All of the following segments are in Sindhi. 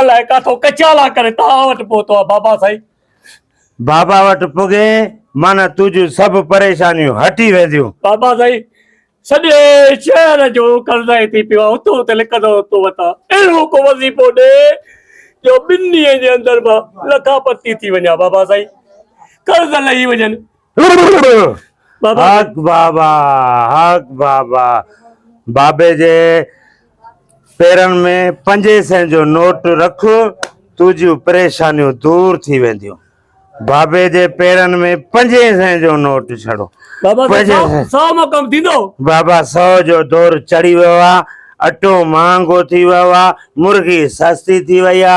الائي ڪاٿو ڪچالا ڪري توهان وٽ پهتو آ بابا سائين. بابا وٽ پڳين معنيٰ تنهنجون سڀ پريشانيون هٽي وينديون. بابا سائين سڄي شهر جو قرضائي ٿي پيو آ هتو هتي لڪندو تو وتان اهڙو ڪو وظيفو ڏي جو ٻن ڏينهن جي اندر مان لکا پتي ٿي وڃان بابا سائين قرض لهي وڃن حق بابا حق بابا بابي جي پيرن ۾ پنجي سين جو نوٽ رک تنهنجيون پريشانيون دور ٿي وينديون بابي جي پيرن ۾ پنجي سين جو نوٽ ڇڙو بابا سو جو دور چڙهي ويو آ اٽو مهانگو ٿي ويو آ مرغي سستي ٿي وئي آ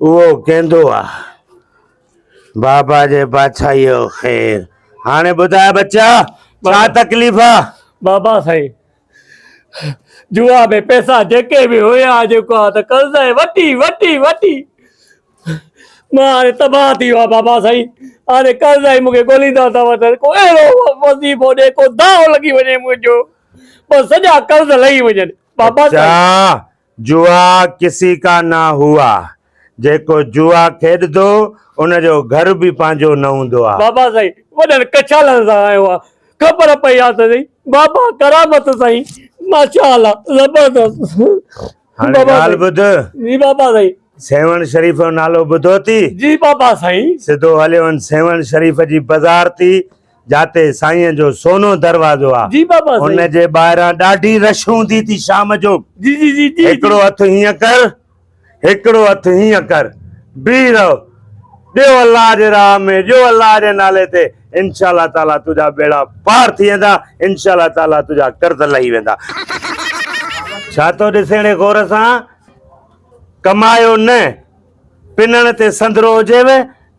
اهو ڪيندو آ بابا جي بادشاهيء جو خير. هاڻي ٻڌاء ٻچا، ڇا تڪليف آ؟ بابا سائين، جوا ۾ پئسا جيڪي به هيا، جيڪو آ ته قرضائي وٺي وٺي وٺي مان هاڻي تباهه ٿي ويو آ بابا سائين. هاڻي قرضائي مون کي ڳوليندا ٿا وڃن. ڪو اهڙو وظيفو ڏي، ڪو دانهون لڳي وڃي منهنجو، بس سڄا قرض لهي وڃن. بابا سائين! ٻچا، جوا ڪسي ڪا نا هوا، جيڪو جوا کيڏندو ان جو گهر به پنهنجو نه هوندو آ. بابا سائين وڏن ڪڇالن سان آيو آ خبر پئي آ ته سهي بابا ڪرامت سائين ماشاء الله زبردست. هاڻي ڳالهه ٻڌ. جي بابا سائين. سيوهڻ شريف جو نالو ٻڌو ٿي؟ جي بابا سائين. سڌو هليو وڃ سيوهڻ شريف جي بزار ٿي جاتي سائين جو سونو دروازو آ جي بابا سائين ان جي ٻاهران ڏاڍي رش هوندي ٿي شام جو جي جي جي جي هڪڙو هٿ هيئن ڪر هڪڙو هٿ هيئن ڪر بيهي رهو ڏيو الله جي راهه ۾ ڏيو الله جي نالي تي انشاء الله تعالي تنهنجا ٻيڙا پار ٿي ويندا انشاء الله تعالي تنهنجا قرض لهي ويندا ڇا ٿو ڏسيڻي غور سان ڪمايو نه پنڻ تي سندرو هجيو